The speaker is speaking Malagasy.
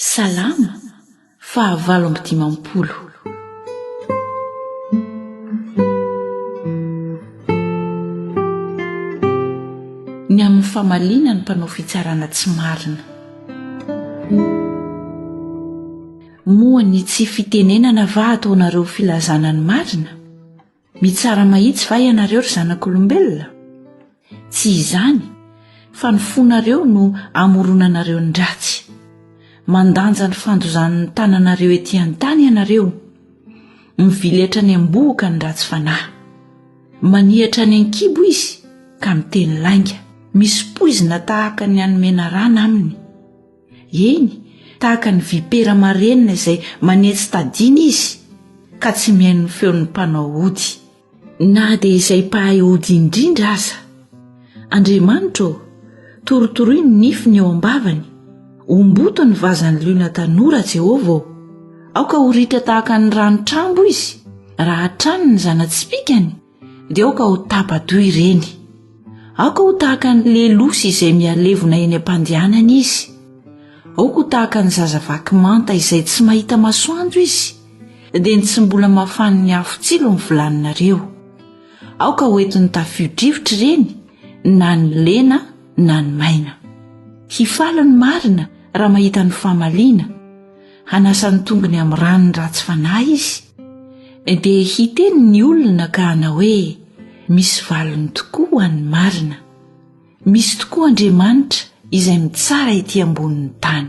Salamo fahavalo amby dimampolo. Ny amin'ny famaliana ny mpanao fitsarana tsy marina. Moa ny tsy fitenenana va ataonareo filazana ny marina? Mitsara mahitsy va ianareo ry zanak'olombelona? Tsy izany, fa ny fonareo no amoronanareo ny ratsy. Mandanja ny fandozan'ny tananareo ety an-tany ianareo. Miviletra any am-bohoka ny ratsy fanahy. Manihatra any an-kibo izy ka miteny lainga. Misy poizina tahaka ny an'ny menarana aminy. Eny, tahaka ny vipera marenina izay manetsy tadiana izy, ka tsy mihaino ny feon'ny mpanao ody. Na dia izay mpahay ody indrindra aza. Andriamanitra ô, torotoroy ny nifiny eo am-bavany. Omboto ny vazan'ny liona tanora, Jehovah ô. Aoka ho ritra tahaka ny rano-trambo izy, raha hatrany ny zana-tsipìkany. dia aoka ho tapa-doha ireny. Aoka ho tahaka ny lelosy izay mihalevona eny am-pandehanany izy. Aoka ho tahaka ny zaza vaky manta izay tsy mahita masoandro izy, dia ny tsy mbola mafanin'ny afo tsilo ny vilaninareo. Aoka ho entin'ny tafio-drivotra ireny, na ny lena na ny maina. Hifaly ny marina raha mahita ny famaliana, hanasa ny tongony amin'ny ranon'ny ratsy fanahy izy, dia hiteny ny olona ka hanao hoe misy valiny tokoa ho an'ny marina, misy tokoa Andriamanitra izay mitsara ety ambonin'ny tany.